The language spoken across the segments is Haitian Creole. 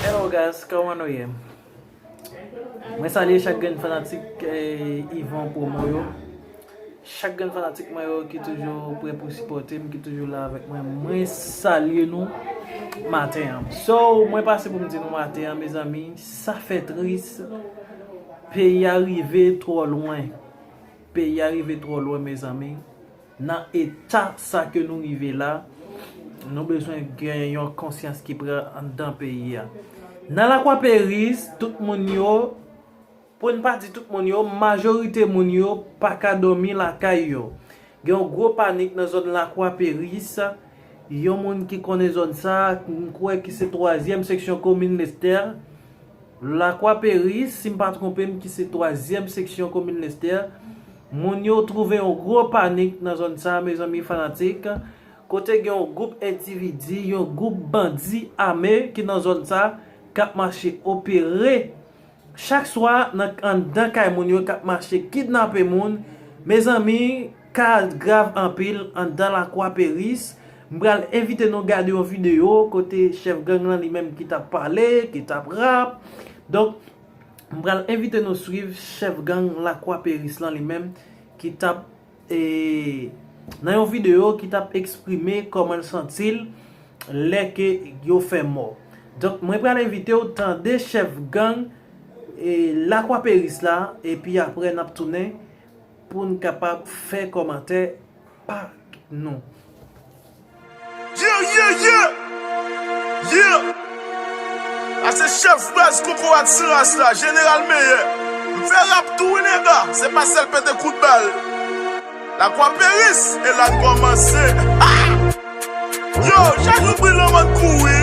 Hello guys kòman nou ye Mwen salye chak grenn fanatik Yvon promo yo. Chak grenn fanatik mwen yo ki toujou prè pou sipòte m, ki toujou la avèk mwen, mwen salye nou maten an. So, mwen pase pou m di nou maten an mezanmi, sa fè tris, peyi a rive twò lwen, peyi a rive twò lwen mezanmi, nan eta sa ke nou rive la, nou bezwen gen yon konsyans ki pran anndan peyi a. Nan Lakwaperis, tout moun yo. Pou n pa di tout moun yo, majorite moun yo pa ka dòmi lakay yo. Gen yon gwo panik nan zòn Lakwa Peris. Yon moun ki konnen zòn sa a, m kwè ki se twazyèm seksyon komin Lestè. Lakwa Peris, si m pa twonpe m, ki se twazyèm seksyon komin Lestè. Moun yo twouve yon gwo panik nan zòn sa a, mezanmi fanatik. Kote gen yon gwoup endividi, yon gwoup bandi ame ki nan zòn sa a, k ap mache opere. Chak swa nan anndan kay moun yo kap mache kidnape moun mezanmi ka grav anpil anndan lakwa peris m pral envite nou gade yon video kote chèf gang lan li menm ki tap pale ki tap rap donk m pral envite nou swiv chèf gang lakwa peris lan li menm ki tap e nan yon video ki tap eksprime koman l santi l lè ke yo fè mò donk mwen pral envite w tande chèf gang e lakwaperis la epi aprè nap tounen pou n kapab fè kòmantè pa nou. Yeah yeah yeah Yeah A se chèf baz kokorat san ras la Jeneral meyè M fè rap tou wi nèga Se pa sèl pete kout bal Lakwa peris e la n kòmanse Yo chak jou bri lanmò n kouri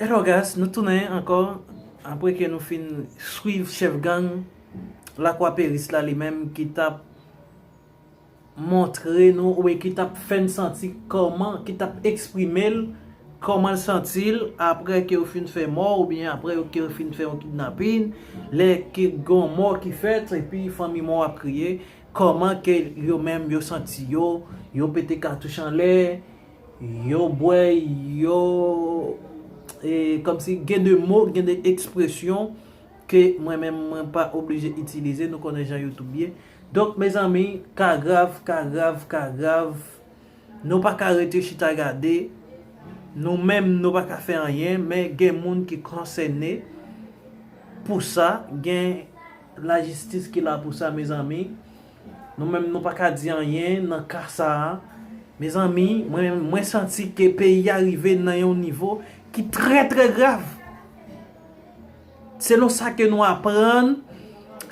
Hello guys nou tounen ankò apre ke nou fin swiv chèf gang lakwa peris la li menm ki tap montre nou oubyen ki tap fè n santi kòman ki tap eksprime l kòman l santi l apre ke yo fin fè mò oubyen apre ke yo fin fè yon kidnapin lè ke gon mò ki fèt epi fanmi mò ap kriye kòman ke yo menm yo santi yo yo pete katouch anlè Yo bwè yo e kòmsi gen de mo, gen de ekspresyon ke mwen menm mwen pa oblije itilize, nou konnen jan youtube ye. Donk mezanmi, ka grav, ka grav, ka grav, nou pa ka rete chita gade, nou menm nou pa ka fè anyen, men gen moun ki konsène pou sa, gen lajistis ki la pou sa mezanmi. Nou menm nou pa ka di anyen nan ka sa a. Mezanmi, mwen menm, mwen santi ke peyi a rive nan yon nivo ki trè trè grav. Selon sa ke nou aprann,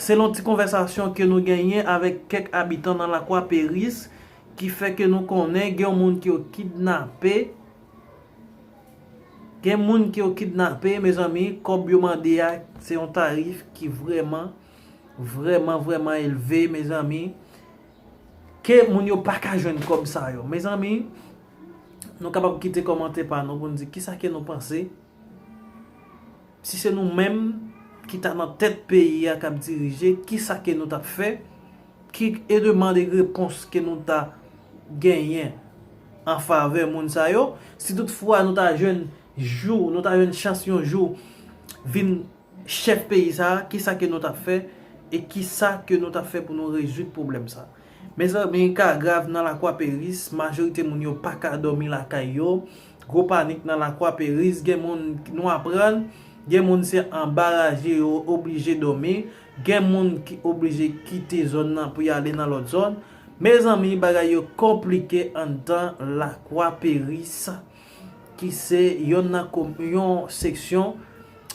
selon ti konvèsasyon ke nou genyen avèk kèk abitan nan Lakwa Peris, ki fè ke nou konnen gen yon moun ke yo kidnape, gen moun ke yo kidnape, mezanmi, kòb yo mande a, se yon tarif ki vrèman. Vreman vreman elve mezanmi. Ke moun yo paka jwenn kob sa yo. Mezanmi nou kapab kite komante pa nou pou nou di kisa ke nou panse. Si se nou menm ki ta nan tet peyi a kap dirije kisa ke nou tap fe. Ki e demand e repons ke nou ta genyen an fave moun sa yo. Si tout fwa nou ta jwenn jou nou ta jwenn chans yon jou vin. Chèf peyi sa a, kisa ke nou tap fè e kisa ke nou tap fè pou nou rezoud pwoblèm sa a? Mezanmi, ka grav nan Lakwa Peris, majorite moun yo pa ka dòmi lakay yo, gwo panik nan Lakwa Peris, gen moun, nou aprann, gen moun se anba raje yo oblije dòmi, gen moun ki oblije kite zòn nan pou yale nan lòt zòn. Mezanmi, bagay yo konplike anndan Lakwa Peris ki se yonn nan, yon seksyon.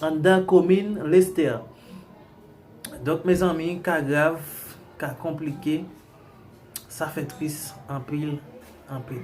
Anndan komin Lestè. Donk mezanmi ka grav, ka konplike, sa fè tris anpil, anpil.